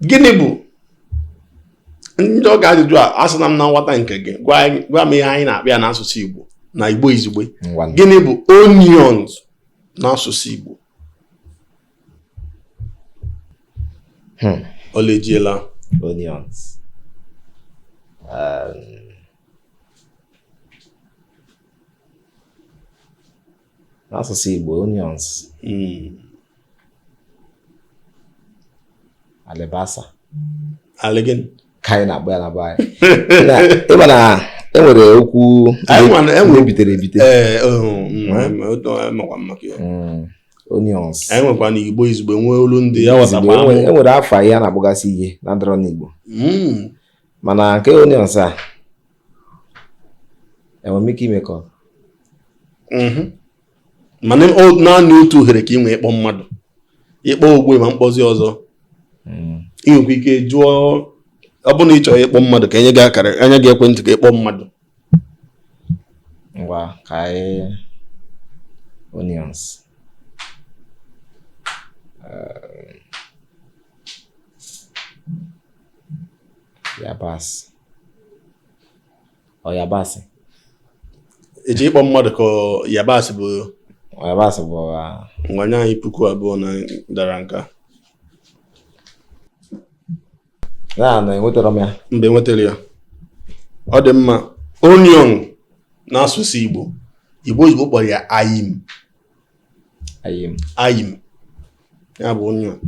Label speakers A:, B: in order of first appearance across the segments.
A: gịnị bụ m jụọ gị ajụjụ a azana m na nghọta nke gị gwa m ihe anyị na-akpọ ya n'asụsụ Igbo na Igbo izugbe gịnị bụ onions n'asụsụ Igbo hmm. olejiela onions um, n'asụsụ Igbo onions hmm. alibasa ali gịnị ka anyị na-akpọ ya na be anyị ịma na enwere okwu ebitere ebite eh, oh, hmm, hmm. onions enwekwa na igbo izugbe nwee olu ndị ya enwere afa anyị na-akpọgasị ihe na-adịrọ n'igbo mana nke onions a enwere m ike ime call mhm. mana naanị otu ohere ka ị nwee ịkpọ mmadụ ị kpọọ ugbu a ị ma akpọzi ọzọ hmm. ị nwekwa ike jụọ ọ bụrụ na ị chọrọ ịkpọ mmadụ ka enye gị ka enye gị ekwentị ka ịkpọ mmadụ ngwa ka anyị onions eh, yabasị ọ yabasị eji ịkpọ mmadụ ka yabasị bụ yabasị bụ ngwa nye anyị puku abụọ na ị dara nke a na na enwetara m ya mba ị nwetarọ ya ọ dị mma onion n'asụsụ Igbo Igbo Igbo kpọrọ ya ayim ayim ya bụ onion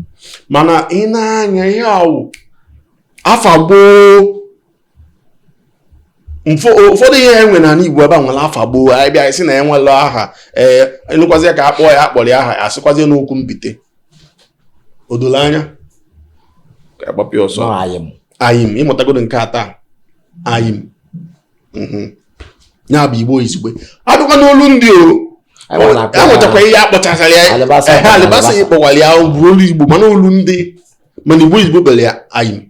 A: mana ị na-anya ihe awụ afa gboo ụfọdụ ihe enwe na Igbo ebe a nwere afa gboo anyị bịa sị na enwela aha ee ị nụkwazi ka akpọọ ya akpọrọ ya aha ya asịkwazi n'okwu mbite odolo anya ka agbapịa ọsọ ayim ị mụtagodu nke taa ayim mhm. ya bụ igbo izugbe abịakwa n'olu ndị o enwetakwa ihe akpọchasara ya alibasa ya kpọwara ya bụ olu igbo mana olu ndị mana igbo izugbe kpọrọ ya ayim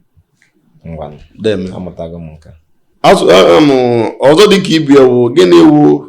A: ọzọ dịka ibe ya wụ gịnị wụ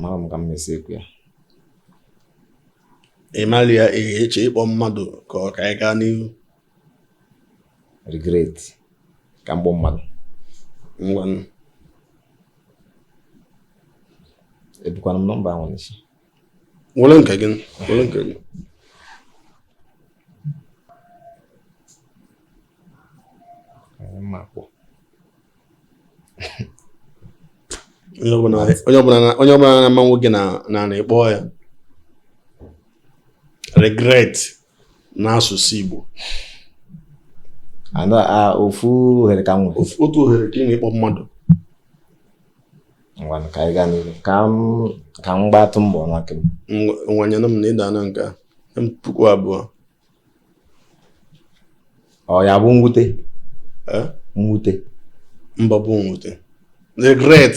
A: marọ m ka m mesi ekwu ya ịmali ya ị chọ ịkpọ mmadụ ka ọ ka anyị gaa n'ihu regret ka m kpọọ mmadụ ngwanụ ebukwana m nọmba ahụ n'isi Were nke gị, were nke gị. onye ọbụla na-ama nwoke na na-ekpọ ya regret n'asụsụ Igbo ofu ohere ka m nwere otu ohere ka ị nwere ịkpọ mmadụ ngwanụ ka anyị gaa n'ihu ka m ka m gbatụ mbọ nwoke m nwanyenụ m na ịda na nke m puku abụọ ọ ya-abụ mwute mwute mba bụ mwute regret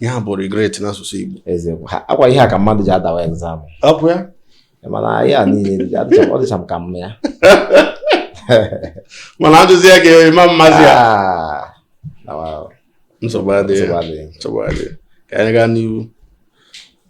A: ihe a bụ regret n'asụsụ Igbo eziokwu akwa ihe a ka mmadụ ji adawa exam ọ bụ ya mana ihe a niile ọ dịcha m ka m ma ya mana a jụzie ya ga-eme m amazi ya ah, nsogbu adịghị ka anyị gaa n'ihu